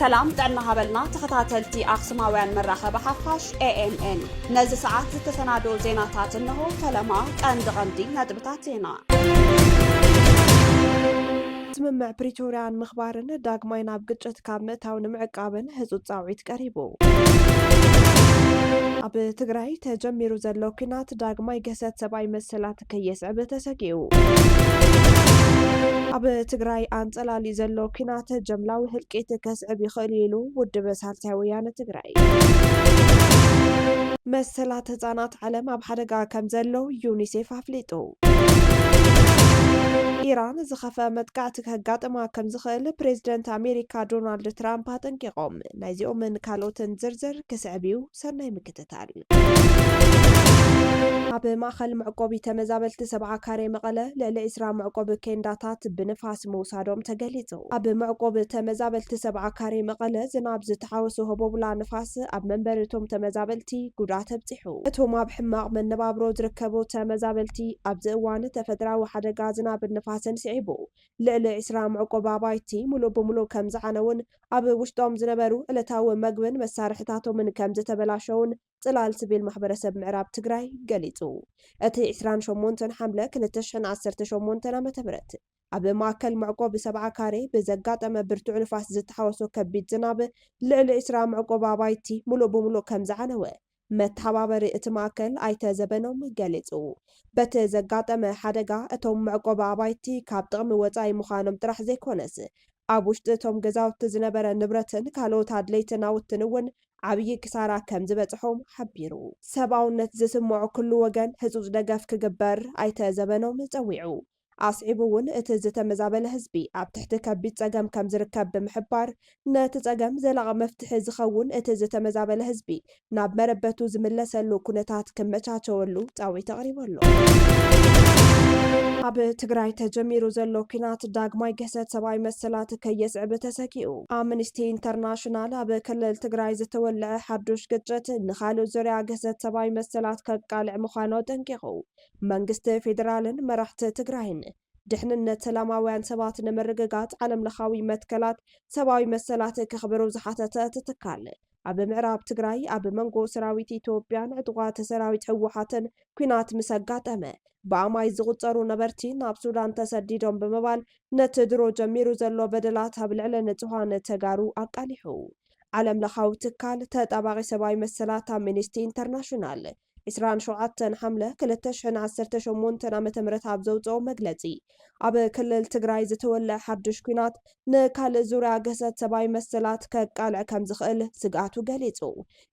ሰላም ጥዕና ሃበልና ተኸታተልቲ ኣክሱማውያን መራኸቢ ሓፋሽ ኤኤምኤን ነዚ ሰዓት ዝተሰናደው ዜናታት እንሆ። ፈለማ ቀንዲ ቀንዲ ነጥብታት ዜና ስምምዕ ፕሪቶርያ ንምኽባርን ዳግማይ ናብ ግጭት ካብ ምእታው ንምዕቃብን ህፁፅ ፃውዒት ቀሪቡ። ኣብ ትግራይ ተጀሚሩ ዘሎ ኲናት ዳግማይ ግህሰት ሰብኣዊ መሰላት ከየስዕብ ተሰጊኡ። ኣብ ትግራይ ኣንፀላልዩ ዘሎ ኲናት ጀምላዊ ህልቂት ከስዕብ ይኽእል እዩ ኢሉ ውድብ ሳልሳይ ወያነ ትግራይ። መሰላት ህፃናት ዓለም ኣብ ሓደጋ ከም ዘሎ ዩኒሴፍ ኣፍሊጡ። ኢራን ዝኸፍኣ መጥቃዕቲ ከጋጥማ ከም ዝኽእል ፕሬዝደንት ኣሜሪካ ዶናልድ ትራምፕ ኣጠንቂቖም። ናይዚኦምን ካልኦትን ዝርዝር ክስዕብ እዩ፣ ሰናይ ምክትታል። ኣብ ማእኸል መዕቆቢ ተመዛበልቲ ሰብዓ ካሬ መቐለ ልዕሊ ዕስራ መዕቆቢ ኬንዳታት ብንፋስ ምውሳዶም ተገሊፁ። ኣብ መዕቆቢ ተመዛበልቲ ሰብዓ ካሬ መቐለ ዝናብ ዝተሓወሶ ህቦብላ ንፋስ ኣብ መንበሪ እቶም ተመዛበልቲ ጉድኣት ኣብፂሑ። እቶም ኣብ ሕማቕ መነባብሮ ዝርከቡ ተመዛበልቲ ኣብዚ እዋን ተፈጥራዊ ሓደጋ ዝናብን ንፋስን ስዒቡ ልዕሊ ዕስራ መዕቆቢ ኣባይቲ ሙሉእ ብሙሉእ ከምዝዓነዉን ኣብ ውሽጦም ዝነበሩ ዕለታዊ መግብን መሳርሕታቶምን ከምዝተበላሸዉን ፅላል ስቪል ማሕበረሰብ ምዕራብ ትግራይ ገሊፁ። እቲ ዕስራን ሸሞንተን ሓምለ ክልተ ሽሕን ዓሰርተ ሸሞንተን ዓ.ም። ኣብ ማእከል መዕቆቢ ሰብዓ ካሬ ብዘጋጠመ ብርቱዕ ንፋስ ዝተሓወሶ ከቢድ ዝናብ፣ ልዕሊ ዕስራ መዕቆቢ ኣባይቲ ምሉእ ብምሉእ ከም ዝዓነወ፣ መተሓባበሪ እቲ ማእከል ኣይተ ዘበኖም ገሊጹ። በቲ ዘጋጠመ ሓደጋ፣ እቶም መዕቆቢ ኣባይቲ ካብ ጥቕሚ ወጻኢ ምዃኖም ጥራሕ ዘይኮነስ፣ ኣብ ውሽጢ እቶም ገዛውቲ ዝነበረ ንብረትን ካልኦት ኣድለይቲ ናውትን እውን ዓብዪ ክሳራ ከም ዝበጽሖም ሓቢሩ። ሰብኣውነት ዝስመዖ ኩሉ ወገን ህጹጽ ደገፍ ክግበር ኣይተ ዘበኖም ጸዊዑ። ኣስዒቡ እውን እቲ ዝተመዛበለ ህዝቢ ኣብ ትሕቲ ከቢድ ፀገም ከምዝርከብ ብምሕባር፣ ነቲ ፀገም ዘላቒ መፍትሒ ዝኸውን እቲ ዝተመዛበለ ህዝቢ ናብ መረበቱ ዝምለሰሉ ኩነታት ክመቻቸወሉ ፃዊት ኣቕሪቡ ኣሎ። ኣብ ትግራይ ተጀሚሩ ዘሎ ኲናት ዳግማይ ግህሰት ሰብኣዊ መሰላት ከየስዕብ ተሰጊኡ። ኣምኒስቲ ኢንተርናሽናል ኣብ ክልል ትግራይ ዝተወልዐ ሓዱሽ ግጭት ንኻልእ ዙርያ ግህሰት ሰብኣዊ መሰላት ከቃልዕ ምዃኑ ኣጠንቂቑ። መንግስቲ ፌደራልን መራሕቲ ትግራይን ድሕንነት ሰላማውያን ሰባት ንምርግጋፅ ዓለም ለኻዊ መትከላት ሰብኣዊ መሰላት ከኽብሩ ዝሓተተ እቲ ትካል ኣብ ምዕራብ ትግራይ ኣብ መንጎ ሰራዊት ኢትዮጵያን ዕጡቓት ሰራዊት ህወሓትን ኲናት ምስ ኣጋጠመ ብኣማይ ዝቑፀሩ ነበርቲ ናብ ሱዳን ተሰዲዶም ብምባል ነቲ ድሮ ጀሚሩ ዘሎ በደላት ኣብ ልዕሊ ንፁሃን ተጋሩ ኣቃሊሑ። ዓለም ለኻዊ ትካል ተጣባቒ ሰብኣዊ መሰላት ኣምኒስቲ ኢንተርናሽናል ዕስራን ሸውዓተን ሓምለ ክልተ ሽሕን ዓሰርተ ሸሞንተን ዓመተ ምህረት ኣብ ዘውጽኦ መግለጺ፣ ኣብ ክልል ትግራይ ዝተወልዐ ሓድሽ ኲናት ንካልእ ዙርያ ግህሰት ሰብኣዊ መሰላት ከቃልዕ ከም ዝኽእል ስግኣቱ ገሊጹ።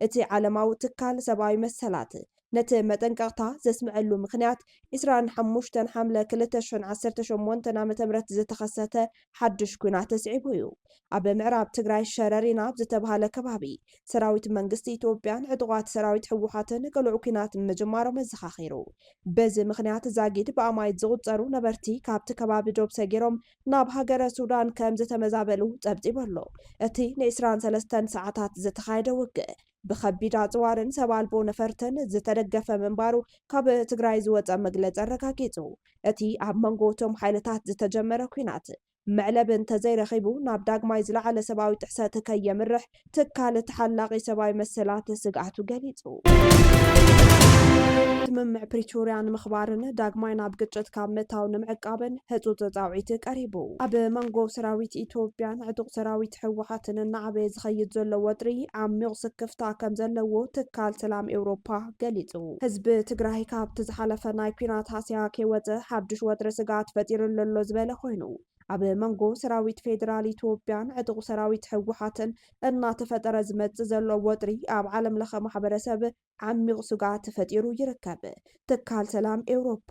እቲ ዓለማዊ ትካል ሰብኣዊ መሰላት ነቲ መጠንቀቕታ ዘስምዐሉ ምኽንያት፣ ዕስራን ሓሙሽተን ሓምለ ክልተ ሽሕን ዓሰርተ ሸሞንተን ዓመተ ምህረት ዝተኸሰተ ሓዱሽ ኲናት ተስዒቡ እዩ። ኣብ ምዕራብ ትግራይ ሸረሪና ኣብ ዝተብሃለ ከባቢ፣ ሰራዊት መንግስቲ ኢትዮጵያን ዕጡቓት ሰራዊት ህወሓትን ቅሉዕ ኲናት ምጅማሮም ኣዘኻኺሩ። በዚ ምኽንያት ዛጊድ ብኣማኢት ዝቑጸሩ ነበርቲ ካብቲ ከባቢ ዶብ ሰጊሮም ናብ ሃገረ ሱዳን ከምዝተመዛበሉ ጸብጺቡ ኣሎ። እቲ ንዒስራን ሰለስተን ሰዓታት ዝተኻየደ ውግእ፣ ብከቢድ ኣፅዋርን ሰብ ኣልቦ ነፈርትን ዝተደገፈ ምንባሩ ካብ ትግራይ ዝወፀ መግለፂ ኣረጋጊፁ። እቲ ኣብ መንጎ እቶም ሓይልታት ዝተጀመረ ኲናት መዕለቢ እንተዘይረኺቡ ናብ ዳግማይ ዝለዓለ ሰብኣዊ ጥሕሰት ከየምርሕ ትካል ተሓላቒ ሰብኣዊ መሰላት ስግኣቱ ገሊፁ። ስምምዕ ፕሪቶርያ ንምኽባርን ዳግማይ ናብ ግጭት ካብ ምእታው ንምዕቃብን ህፁፅ ፃውዒት ቀሪቡ። ኣብ መንጎ ሰራዊት ኢትዮጵያን ዕጡቕ ሰራዊት። መንግስቲ ህወሓትን እናዓበየ ዝኸይድ ዘሎ ወጥሪ ዓሚቕ ስክፍታ ከምዘለዎ ትካል ሰላም ኤውሮፓ ገሊፁ። ህዝቢ ትግራይ ካብቲ ዝሓለፈ ናይ ኲናት ሃስያ ከይወፀ ሓዱሽ ወጥሪ ስግኣት ፈጢሩሉ ኣሎ ዝበለ ኮይኑ፣ ኣብ መንጎ ሰራዊት ፌዴራል ኢትዮጵያን ዕጡቕ ሰራዊት ህወሓትን እናተፈጠረ ዝመፅእ ዘሎ ወጥሪ ኣብ ዓለም ለኸ ማሕበረሰብ ዓሚቕ ስግኣት ፈጢሩ ይርከብ ትካል ሰላም ኤውሮፓ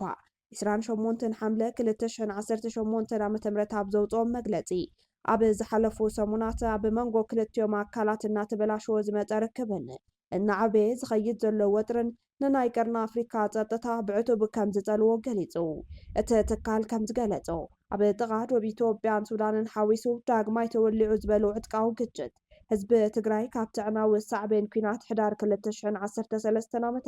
ዕስራን ሸሞንተን ሓምለ ክልተ ሽሕን ዓሰርተ ሸሞንተን ዓ ም ኣብ ዘውጽኦ መግለጺ፣ ኣብ ዝሓለፉ ሰሙናት ኣብ መንጎ ክልቲኦም ኣካላት እናተበላሸወ ዝመጸ ርክብን እናዓበየ ዝኸይድ ዘሎ ወጥርን ንናይ ቀርኒ ኣፍሪካ ጸጥታ ብዕቱብ ከምዝጸልዎ ገሊጹ። እቲ ትካል ከምዝገለጾ፣ ኣብ ጥቓ ዶብ ኢትዮጵያን ሱዳንን ሓዊሱ ዳግማይ ተወሊዑ ዝበሎ ዕጥቃዊ ግጭት፣ ህዝቢ ትግራይ ካብቲ ኣዕናዊ ሳዕቤን ኲናት ሕዳር ክልተ ሽሕን ዓሰርተ ሰለስተን ዓ ም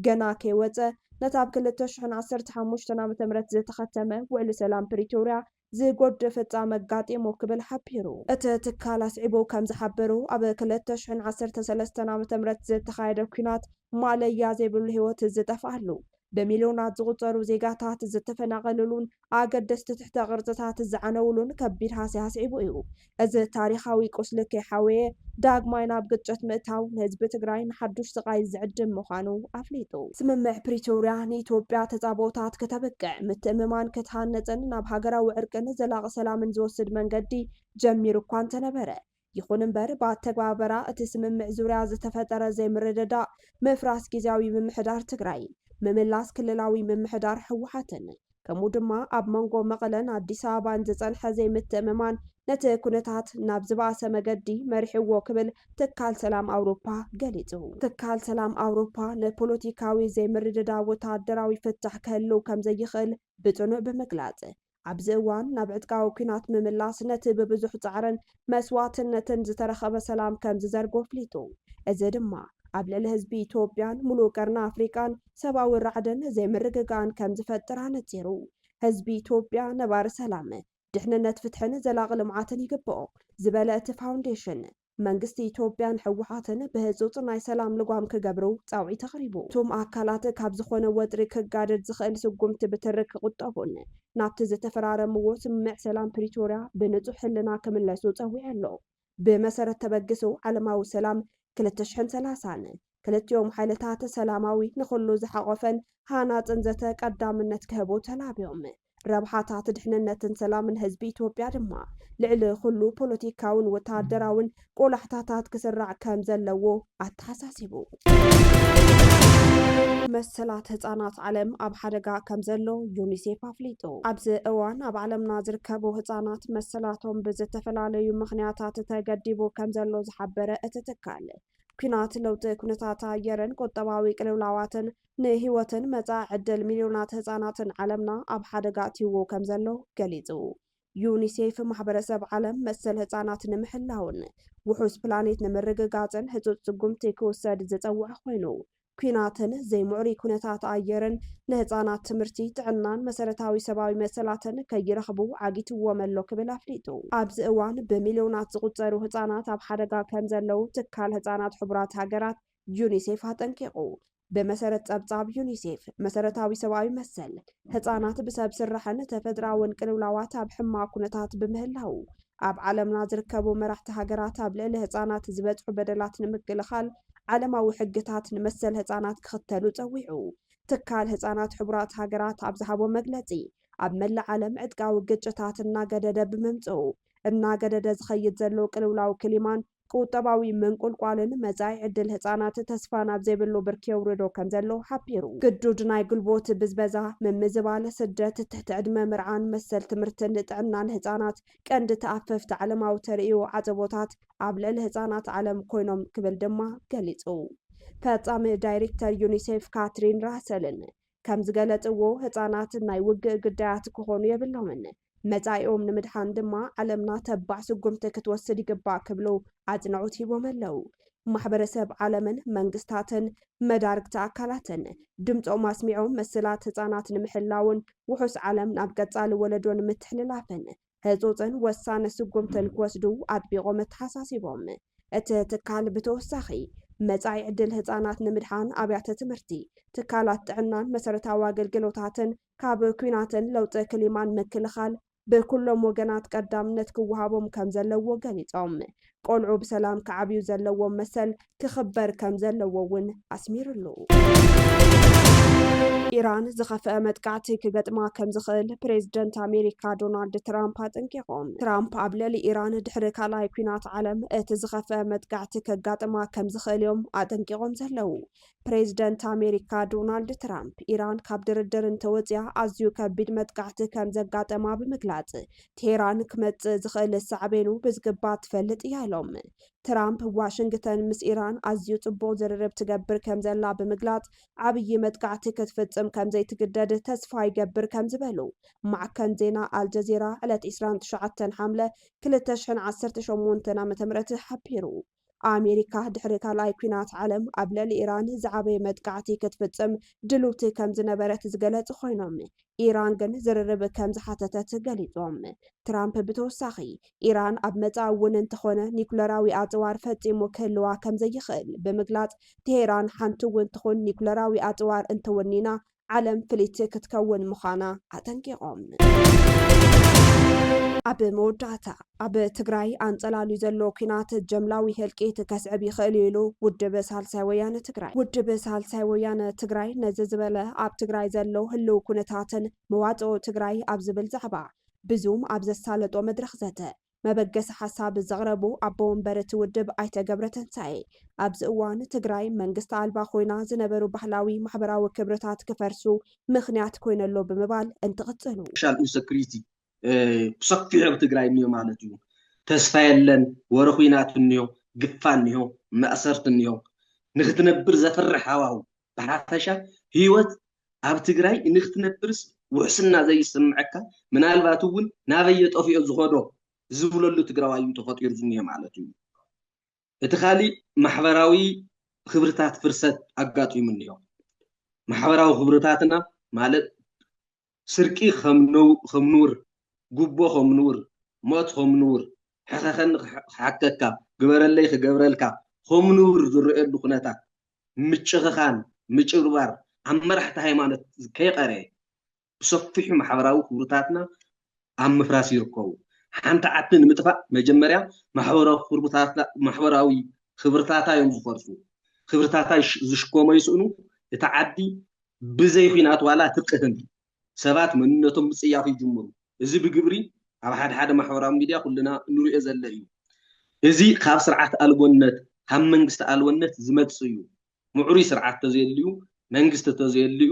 ገና ከይወጸ፣ ነቲ ኣብ ክልተ ሽሕን ዓሰርተ ሓሙሽተን ዓመተ ምህረት ዝተኸተመ ውዕሊ ሰላም ፕሪቶርያ ዝጎድእ ፍጻመ ኣጋጢሙ ክብል ሓቢሩ። እቲ ትካል ኣስዒቡ ከም ዝሓበሮ፣ ኣብ ክልተ ሽሕን ዓሰርተ ሰለስተን ዓመተ ምህረት ዝተኻየደ ኲናት ማእለያ ዘይብሉ ህይወት ዝጠፍኣሉ፣ ብሚልዮናት ዝቑጸሩ ዜጋታት ዝተፈናቐልሉን ኣገደስቲ ትሕተ ቅርጽታት ዝዓነውሉን ከቢድ ሃስያ ኣስዒቡ እዩ። እዚ ታሪኻዊ ቁስሊ ከይሓወየ ዳግማይ ናብ ግጭት ምእታው ንህዝቢ ትግራይ ንሓዱሽ ስቓይ ዝዕድም ምዃኑ ኣፍሊጡ። ስምምዕ ፕሪቶርያ ንኢትዮጵያ ተጻብኦታት ክተብቅዕ፣ ምትእምማን ክትሃንጽን ናብ ሃገራዊ ዕርቅን ዘላቒ ሰላምን ዝወስድ መንገዲ ጀሚሩ እኳ እንተነበረ፣ ይኹን እምበር ብኣተግባበራ እቲ ስምምዕ ዙርያ ዝተፈጠረ ዘይምርድዳእ፣ ምፍራስ ጊዚያዊ ምምሕዳር ትግራይ፣ ምምላስ ክልላዊ ምምሕዳር ህወሓትን ከምኡ ድማ ኣብ መንጎ መቐለን ኣዲስ ኣበባን ዝፀንሐ ዘይምትእምማን ነቲ ኩነታት ናብ ዝበኣሰ መገዲ መሪሕዎ ክብል ትካል ሰላም ኣውሮፓ ገሊፁ። ትካል ሰላም ኣውሮፓ ንፖለቲካዊ ዘይምርድዳእ ወታደራዊ ፍታሕ ክህልው ከምዘይኽእል ብፅኑዕ ብምግላፅ ኣብዚ እዋን ናብ ዕጥቃዊ ኲናት ምምላስ ነቲ ብብዙሕ ጻዕርን መስዋእትነትን ዝተረኸበ ሰላም ከም ዝዘርጎ ኣፍሊጡ። እዚ ድማ ኣብ ልዕሊ ህዝቢ ኢትዮጵያን ሙሉእ ቀርኒ ኣፍሪቃን ሰብኣዊ ራዕድን ዘይምርግጋእን ከም ዝፈጥር ኣነጺሩ። ህዝቢ ኢትዮጵያ ነባሪ ሰላም፣ ድሕንነት፣ ፍትሕን ዘላቒ ልምዓትን ይግብኦ ዝበለ እቲ ፋውንዴሽን፣ መንግስቲ ኢትዮጵያን ህወሓትን ብህፁፅ ናይ ሰላም ልጓም ክገብሩ ፃውዒት ኣቕሪቡ። እቱም ኣካላት ካብ ዝኾነ ወጥሪ ክጋደድ ዝኽእል ስጉምቲ ብትሪ ክቑጠቡን ናብቲ ዝተፈራረምዎ ስምምዕ ሰላም ፕሪቶርያ ብንፁህ ሕልና ክምለሱ ፀዊዑ ኣሎ። ብመሰረት ተበግሶ ዓለማዊ ሰላም ክልተ ሽሕን ሰላሳን ክልቲኦም ሓይልታት ሰላማዊ፣ ንኹሉ ዝሓቖፈን ሃናፅን ዘተ ቀዳምነት ክህቡ ተላብዮም። ረብሓታት ድሕንነትን ሰላምን ህዝቢ ኢትዮጵያ ድማ ልዕሊ ኩሉ ፖለቲካውን ወተሃደራውን ቆላሕታታት ክስራዕ ከም ዘለዎ ኣተሓሳሲቡ። መሰላት ህፃናት ዓለም ኣብ ሓደጋ ከም ዘሎ ዩኒሴፍ ኣፍሊጡ። ኣብዚ እዋን ኣብ ዓለምና ዝርከቡ ህፃናት መሰላቶም ብዝተፈላለዩ ምክንያታት ተገዲቡ ከም ዘሎ ዝሓበረ እቲ ትካል ኩናት፣ ለውጢ ኩነታት ኣየርን ቁጠባዊ ቅልውላዋትን ንህይወትን መጻኢ ዕድል ሚልዮናት ህጻናትን ዓለምና ኣብ ሓደጋ ኣእትይዎ ከም ዘሎ ገሊጹ። ዩኒሴፍ ማሕበረሰብ ዓለም መሰል ህጻናት ንምሕላውን ውሑስ ፕላኔት ንምርግጋጽን ህጹጽ ስጉምቲ ክውሰድ ዝጸውዐ ኮይኑ፣ ኲናትን ዘይምዕሩይ ኩነታት ኣየርን ንህጻናት ትምህርቲ፣ ጥዕናን መሰረታዊ ሰብኣዊ መሰላትን ከይረኽቡ ዓጊትዎም ኣሎ ክብል ኣፍሊጡ። ኣብዚ እዋን ብሚልዮናት ዝቑጸሩ ህጻናት ኣብ ሓደጋ ከም ዘለዉ ትካል ህጻናት ሕቡራት ሃገራት ዩኒሴፍ ኣጠንቂቑ። ብመሰረት ጸብጻብ ዩኒሴፍ፣ መሰረታዊ ሰብኣዊ መሰል ህጻናት ብሰብ ስራሕን ተፈጥሮኣውን ቅልውላዋት ኣብ ሕማቕ ኩነታት ብምህላዉ፣ ኣብ ዓለምና ዝርከቡ መራሕቲ ሃገራት ኣብ ልዕሊ ህጻናት ዝበጽሑ በደላት ንምክልኻል ዓለማዊ ሕግታት ንመሰል ህጻናት ክኽተሉ ጸዊዑ። ትካል ህጻናት ሕቡራት ሃገራት ኣብ ዝሃቦ መግለጺ፣ ኣብ መላእ ዓለም ዕጥቃዊ ግጭታት እናገደደ ብምምጽኡ፣ እናገደደ ዝኸይድ ዘሎ ቅልውላው ክሊማን፣ ቁጠባዊ ምንቁልቋልን መጻኢ ዕድል ህጻናት ተስፋ ናብ ዘይብሉ ብርኪ የውርዶ ከምዘሎ ሓቢሩ። ግዱድ ናይ ጉልቦት ብዝበዛ፣ ምምዝባል፣ ስደት፣ ትሕቲ ዕድመ ምርዓን መሰል ትምህርትን ጥዕናን ህጻናት ቀንዲ ተኣፈፍቲ ዓለማዊ ተርእዮ ዓጸቦታት ኣብ ልዕሊ ህጻናት ዓለም ኮይኖም ክብል ድማ ገሊጹ። ፈጻሚ ዳይሪክተር ዩኒሴፍ ካትሪን ራሰልን ከምዝገለጽዎ፣ ህጻናት ናይ ውግእ ግዳያት ክኾኑ የብሎምን። መፃኢኦም ንምድሓን ድማ ዓለምና ተባዕ ስጉምቲ ክትወስድ ይግባእ ክብሉ ኣፅንዖት ሂቦም ኣለው። ማሕበረሰብ ዓለምን መንግስታትን መዳርግቲ ኣካላትን ድምፆም ኣስሚዖም መሰላት ህፃናት ንምሕላውን ውሑስ ዓለም ናብ ቀፃሊ ወለዶ ንምትሕልላፍን ህፁፅን ወሳኒ ስጉምትን ክወስዱ ኣጥቢቖም ኣተሓሳሲቦም። እቲ ትካል ብተወሳኺ መፃኢ ዕድል ህፃናት ንምድሓን ኣብያተ ትምህርቲ፣ ትካላት ጥዕናን መሰረታዊ ኣገልግሎታትን ካብ ኲናትን ለውጢ ክሊማን ምክልኻል ብኩሎም ወገናት ቀዳምነት ክወሃቦም ከምዘለዎ ገሊፆም። ቆልዑ ብሰላም ክዓብዩ ዘለዎም መሰል ክኽበር ከምዘለዎ እውን ኣስሚርሉ። ኢራን ዝኸፍአ መጥቃዕቲ ክገጥማ ከም ዝኽእል ፕሬዝደንት ኣሜሪካ ዶናልድ ትራምፕ ኣጠንቂቖም። ትራምፕ ኣብ ልዕሊ ኢራን ድሕሪ ካልኣይ ኲናት ዓለም እቲ ዝኸፍአ መጥቃዕቲ ከጋጥማ ከም ዝኽእል እዮም ኣጠንቂቖም ዘለዉ። ፕሬዝደንት ኣሜሪካ ዶናልድ ትራምፕ፣ ኢራን ካብ ድርድር እንተወጺኣ ኣዝዩ ከቢድ መጥቃዕቲ ከም ዘጋጠማ ብምግላጽ፣ ቴህራን ክመጽእ ዝኽእል ሳዕቤኑ ብዝግባእ ትፈልጥ እያ ኢሎም። ትራምፕ፣ ዋሽንግተን ምስ ኢራን ኣዝዩ ጽቡቕ ዝርርብ ትገብር ከም ዘላ ብምግላጽ፣ ዓብዪ መጥቃዕቲ ክትፍጽም ከም ዘይትግደድ ተስፋ ይገብር ከም ዝበሉ ማዕከን ዜና ኣልጀዚራ ዕለት ዕስራን ትሽዓተን ሓምለ ክልተ ሽሕን ዓሰርተ ሸሞንተን ዓመተ ምህረት ሓቢሩ። ኣሜሪካ ድሕሪ ካልኣይ ኲናት ዓለም ኣብ ልዕሊ ኢራን ዝዓበየ መጥቃዕቲ ክትፍጽም ድልውቲ ከም ዝነበረት ዝገለጹ ኾይኖም፣ ኢራን ግን ዝርርብ ከም ዝሓተተት ገሊጾም። ትራምፕ ብተወሳኺ፣ ኢራን ኣብ መጻኢ እውን እንተኾነ ኒኩለራዊ ኣጽዋር ፈጺሙ ክህልዋ ከም ዘይኽእል ብምግላጽ፣ ቴሄራን ሓንቲ'ውን ትኹን ኒኩለራዊ ኣጽዋር እንተወኒና፣ ዓለም ፍልይቲ ክትከውን ምዃና ኣጠንቂቖም። ኣብ መወዳእታ፣ ኣብ ትግራይ ኣንጸላልዩ ዘሎ ኲናት ጀምላዊ ህልቂት ከስዕብ ይኽእል እዩ ኢሉ ውድብ ሳልሳይ ወያነ ትግራይ። ውድብ ሳልሳይ ወያነ ትግራይ ነዚ ዝበለ ኣብ ትግራይ ዘሎ ህልው ኩነታትን መዋጽኦ ትግራይ ኣብ ዝብል ዛዕባ ብዙም ኣብ ዘሳለጦ መድረኽ ዘተ መበገሲ ሓሳብ ዘቕረቡ ኣቦ ወንበር እቲ ውድብ ኣይተ ገብረተንሳኤ፣ ኣብዚ እዋን ትግራይ መንግስቲ ኣልባ ኮይና ዝነበሩ ባህላዊ ማሕበራዊ ክብርታት ክፈርሱ ምኽንያት ኮይኖ ኣሎ ብምባል እንትቕፅሉ። ሶሻል ኢንሰኩሪቲ ብሰፊሑ ኣብ ትግራይ እኒሆ ማለት እዩ። ተስፋ የለን፣ ወረ ኹናት እኒሆ፣ ግፋ እኒሆ፣ ማእሰርቲ እኒሆ፣ ንኽትነብር ዘፍርሕ ሃዋህው፣ ብሓፈሻ ህይወት ኣብ ትግራይ እንክትነብርስ ውሕስና ዘይስመዐካ ምናልባት እውን ናበየ ጠፊኦ ዝኸዶ ዝብለሉ ትግራዋይ እዩ ተፈጢሩ ዝኒሀ ማለት እዩ። እቲ ካሊእ ማሕበራዊ ክብርታት ፍርሰት ኣጋጢሙ እኒሆ። ማሕበራዊ ክብርታትና ማለት ስርቂ ከም ንውር፣ ጉቦ ከም ንውር፣ ሞት ከም ንውር፣ ሕኸኸኒ ክሓከካ፣ ግበረለይ ክገብረልካ ከም ንውር ዝረኤሉ ኩነታት ምጭኽኻን ምጭብርባር ኣብ መራሕቲ ሃይማኖት ከይቐረየ ብሰፊሑ ማሕበራዊ ክብርታትና ኣብ ምፍራስ ይርከቡ። ሓንቲ ዓዲ ንምጥፋእ መጀመርያ ማሕበራዊ ክብርታታ ዮም ዝፈርሱ። ክብርታታ ዝሽከሞ ይስእኑ፣ እታ ዓዲ ብዘይ ኹናት ዋላ ትቅህም። ሰባት መንነቶም ምጽያፍ ይጅምሩ። እዚ ብግብሪ ኣብ ሓደ ሓደ ማሕበራዊ ሚድያ ኩልና እንርእዮ ዘለ እዩ። እዚ ካብ ስርዓት ኣልቦነት ካብ መንግስቲ ኣልቦነት ዝመጽእ እዩ። ምዕሩይ ስርዓት ተዘየልዩ መንግስቲ ተዘየልዩ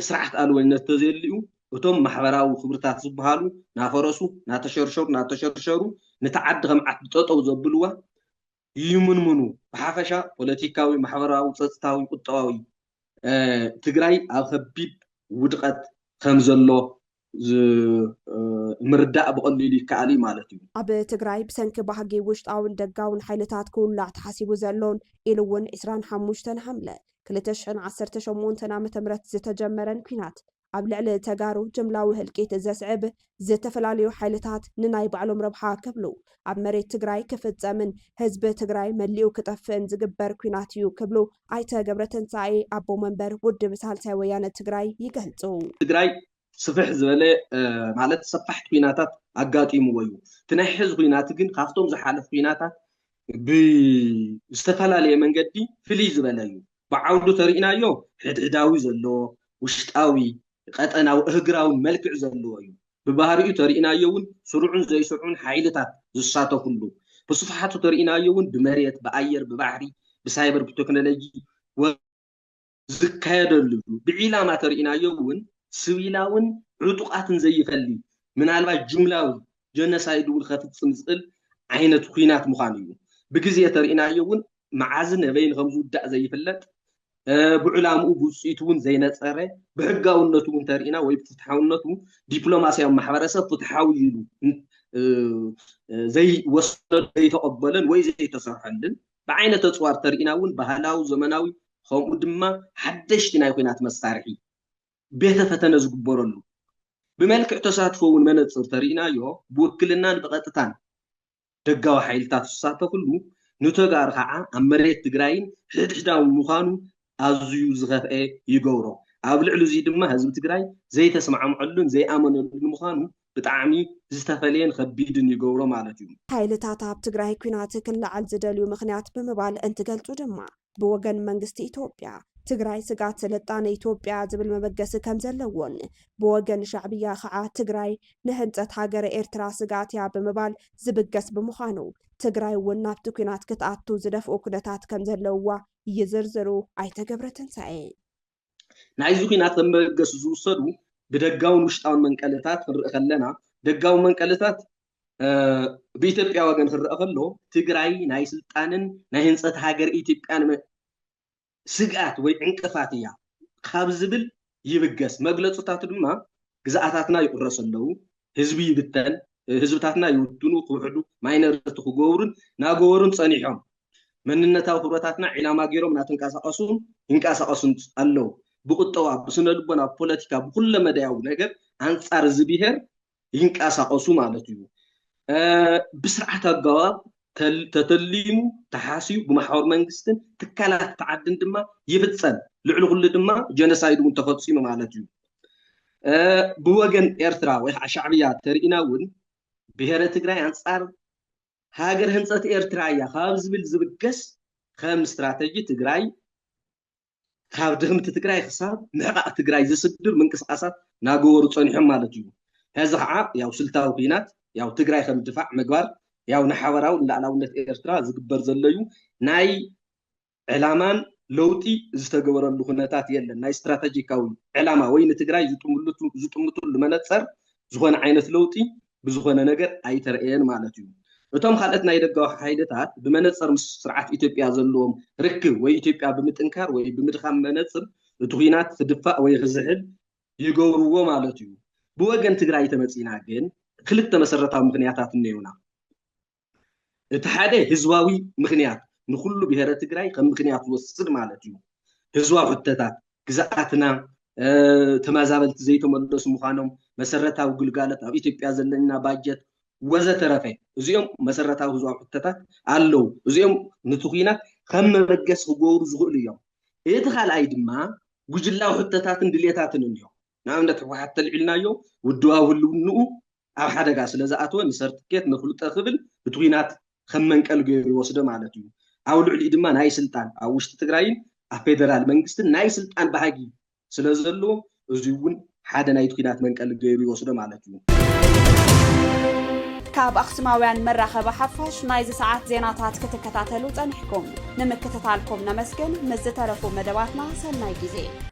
ስርዓት ኣልቦነት ተዘየልዩ እቶም ማሕበራዊ ክብርታት ዝብሃሉ ናፈረሱ ናተሸርሸሩ ናተሸርሸሩ ንታ ዓዲ ከም ዓዲ ጠጠው ዘብልዋ ይምንምኑ። ብሓፈሻ ፖለቲካዊ፣ ማሕበራዊ፣ ፀፅታዊ፣ ቁጠባዊ ትግራይ ኣብ ከቢድ ውድቐት ከምዘሎ ምርዳእ ብቐሊሉ ይከኣል እዩ ማለት እዩ። ኣብ ትግራይ ብሰንኪ ባህጊ ውሽጣውን ደጋውን ሓይልታት ክውላዕ ተሓሲቡ ዘሎን ኢሉ እውን ዕስራን ሓሙሽተን ሓምለ ክልተ ሽሕን ዓሰርተ ሸሞንተን ዓመተ ምህረት ዝተጀመረን ኲናት ኣብ ልዕሊ ተጋሩ ጅምላዊ ህልቂት ዘስዕብ ዝተፈላለዩ ሓይልታት ንናይ ባዕሎም ረብሓ ክብሉ ኣብ መሬት ትግራይ ክፍፀምን ህዝቢ ትግራይ መሊኡ ክጠፍእን ዝግበር ኲናት እዩ ክብሉ ኣይተ ገብረትንሳኤ ኣቦ መንበር ውድብ ሳልሳይ ወያነ ትግራይ ይገልፁ። ትግራይ ስፍሕ ዝበለ ማለት ሰፋሕቲ ኲናታት ኣጋጢምዎ እዩ። እቲ ናይ ሕዚ ዂናት ግን ካብቶም ዝሓለፉ ዂናታት ብዝተፈላለየ መንገዲ ፍልይ ዝበለ እዩ። ብዓውዱ ተሪእናዮ ሕድሕዳዊ ዘለዎ ውሽጣዊ፣ ቐጠናዊ፣ እህግራውን መልክዕ ዘለዎ እዩ። ብባህሪኡ ተሪእናዮ ውን ስሩዕን ዘይስሩዕን ሓይልታት ዝሳተፍሉ፣ ብስፍሓቱ ተሪእናዮ ውን ብመሬት፣ ብኣየር፣ ብባሕሪ፣ ብሳይበር፣ ብተክኖሎጂ ወዘተ ዝካየደሉ እዩ። ብዒላማ ተሪእናዮ ውን ስቪላውን ዕጡቓትን ዘይፈሊ ምናልባሽ ጅምላዊ ጀኖሳይድ ውን ኸፍፅም ዝኽእል ዓይነት ኹናት ምዃኑ እዩ። ብግዜ ተሪእናዮ ውን መዓዝን ኣበይን ከም ዝውዳእ ዘይፍለጥ፣ ብዕላምኡ ብውጽኢቱ እውን ዘይነጸረ፣ ብሕጋውነቱ እውን እንተርኢና ወይ ብፍትሓውነቱ ዲፕሎማስያዊ ማሕበረሰብ ፍትሓዊ እዩ ኢሉ ዘይወሰዶ ዘይተቐበለን ወይ ዘይተሰርሐሉን፣ ብዓይነተ ኣጽዋር እንተርኢና እውን ባህላዊ፣ ዘመናዊ ከምኡ ድማ ሓደሽቲ ናይ ኲናት መሳርሒ ቤተ ፈተነ ዝግበረሉ፣ ብመልክዕ ተሳትፎ እውን መነጽር ተርኢናዮ ብውክልናን ብቐጥታን ደጋዊ ሓይልታት ዝሳተፍሉ ንተጋሩ ከዓ ኣብ መሬት ትግራይን ሕድሕዳውን ምዃኑ ኣዝዩ ዝኸፍኤ ይገብሮ። ኣብ ልዕሊ እዙይ ድማ ህዝቢ ትግራይ ዘይተስማዕምዐሉን ዘይኣመነሉን ምዃኑ ብጣዕሚ ዝተፈለየን ኸቢድን ይገብሮ ማለት እዩ። ሓይልታት ኣብ ትግራይ ኲናት ክለዓል ዝደልዩ ምኽንያት ብምባል እንትገልፁ ድማ ብወገን መንግስቲ ኢትዮጵያ፣ ትግራይ ስግኣት ስልጣነ ኢትዮጵያ'ያ ዝብል መበገሲ ከም ዘለዎን፣ ብወገን ሻዕብያ ከኣ ትግራይ ንህንጸት ሃገረ ኤርትራ ስግኣት'ያ ብምባል ዝብገስ ብምዃኑ፣ ትግራይ'ውን ናብቲ ኲናት ክትኣቱ ዝደፍኡ ኩነታት ከም ዘለውዋ ይዝርዝሩ ኣይተ ገብረትንሳኤ። ናይዚ ኩናት ከም መበገሲ ዝውሰዱ ብደጋውን ውሽጣውን መንቀልታት ክንርኢ ከለና ደጋዊ መንቀልታት ብኢትዮጵያ ወገን ክረአ ከሎ ትግራይ ናይ ስልጣንን ናይ ህንፀት ሃገር ኢትዮጵያን ስግኣት ወይ ዕንቅፋት እያ ካብ ዝብል ይብገስ መግለፅታቱ ድማ ግዝኣታትና ይቁረሱ ኣለዉ፣ ህዝቢ ይብተን፣ ህዝብታትና ይውድኑ፣ ክውሕዱ፣ ማይነርቲ ክገብሩን ናገበሩን ጸኒሖም። መንነታዊ ክብረታትና ዒላማ ገይሮም ናተንቀሳቀሱን ይንቀሳቀሱን ኣለዉ። ብቁጠባ፣ ብስነልቦና፣ ብፖለቲካ፣ ብኩለመዳያዊ ነገር ኣንጻር እዚ ብሄር ይንቀሳቀሱ ማለት እዩ። ብስርዓት ኣገባብ ተተሊሙ ተሓስዩ ብማሕበር መንግስትን ትካላት እቲ ዓድን ድማ ይፍፀም ልዕሊ ኩሉ ድማ ጀኖሳይድ እውን ተፈፂሙ ማለት እዩ ብወገን ኤርትራ ወይ ከዓ ሻዕብያ ተርእና እውን ብሄረ ትግራይ ኣንፃር ሃገር ህንፀት ኤርትራ እያ ካብ ዝብል ዝብገስ ከም ስትራተጂ ትግራይ ካብ ድኽምቲ ትግራይ ክሳብ ምሕቓቕ ትግራይ ዝስድር ምንቅስቓሳት ናገበሩ ፀኒሖም ማለት እዩ። ሕዚ ከዓ ያው ስልታዊ ኩናት ያው ትግራይ ከም ድፋዕ ምግባር ያው ንሓበራዊ ንላእላውነት ኤርትራ ዝግበር ዘሎ እዩ። ናይ ዕላማን ለውጢ ዝተገበረሉ ኩነታት የለን። ናይ ስትራተጂካዊ ዕላማ ወይ ንትግራይ ዝጥምትሉ መነፀር ዝኾነ ዓይነት ለውጢ ብዝኾነ ነገር ኣይተርእየን ማለት እዩ። እቶም ካልኦት ናይ ደጋዊ ሓይልታት ብመነጸር ምስ ስርዓት ኢትዮጵያ ዘለዎም ርክብ ወይ ኢትዮጵያ ብምጥንካር ወይ ብምድኻም መነጽር እቲ ኩናት ክድፋእ ወይ ክዝሕል ይገብርዎ ማለት እዩ። ብወገን ትግራይ ተመጺእና ግን ክልተ መሰረታዊ ምክንያታት እነዩና። እቲ ሓደ ህዝባዊ ምኽንያት ንኹሉ ብሄረ ትግራይ ከም ምኽንያት ዝወስድ ማለት እዩ። ህዝባዊ ሕቶታት ግዝኣትና ተመዛበልቲ ዘይተመለሱ ምዃኖም፣ መሰረታዊ ግልጋሎት፣ ኣብ ኢትዮጵያ ዘለና ባጀት ወዘተረፈ እዚኦም መሰረታዊ ህዝባዊ ሕቶታት ኣለዉ። እዚኦም ንቲ ኲናት ከም መበገሲ ክገብሩ ዝኽእሉ እዮም። እቲ ካልኣይ ድማ ጉጅላዊ ሕቶታትን ድሌታትን እዮም። ንኣብነት ህወሓት እንተልዒልናዮ ውድባዊ ህልውንኡ ኣብ ሓደጋ ስለዝኣተወ ንሰርትኬት ነፍልጦ ክብል ብትኲናት ከም መንቀሊ ገይሩ ይወስዶ ማለት እዩ። ኣብ ልዕሊኡ ድማ ናይ ስልጣን ኣብ ውሽጢ ትግራይን ኣብ ፌደራል መንግስትን ናይ ስልጣን ባህጊ ስለዘለዎ እዙይ እውን ሓደ ናይ ትኲናት መንቀሊ ገይሩ ይወስዶ ማለት እዩ። ካብ ኣኽሱማውያን መራኸቢ ሓፋሽ ናይዚ ሰዓት ዜናታት ክትከታተሉ ጸኒሕኩም ንምክትታልኩም ነመስግን። ምስ ዝተረፉ መደባትና ሰናይ ግዜ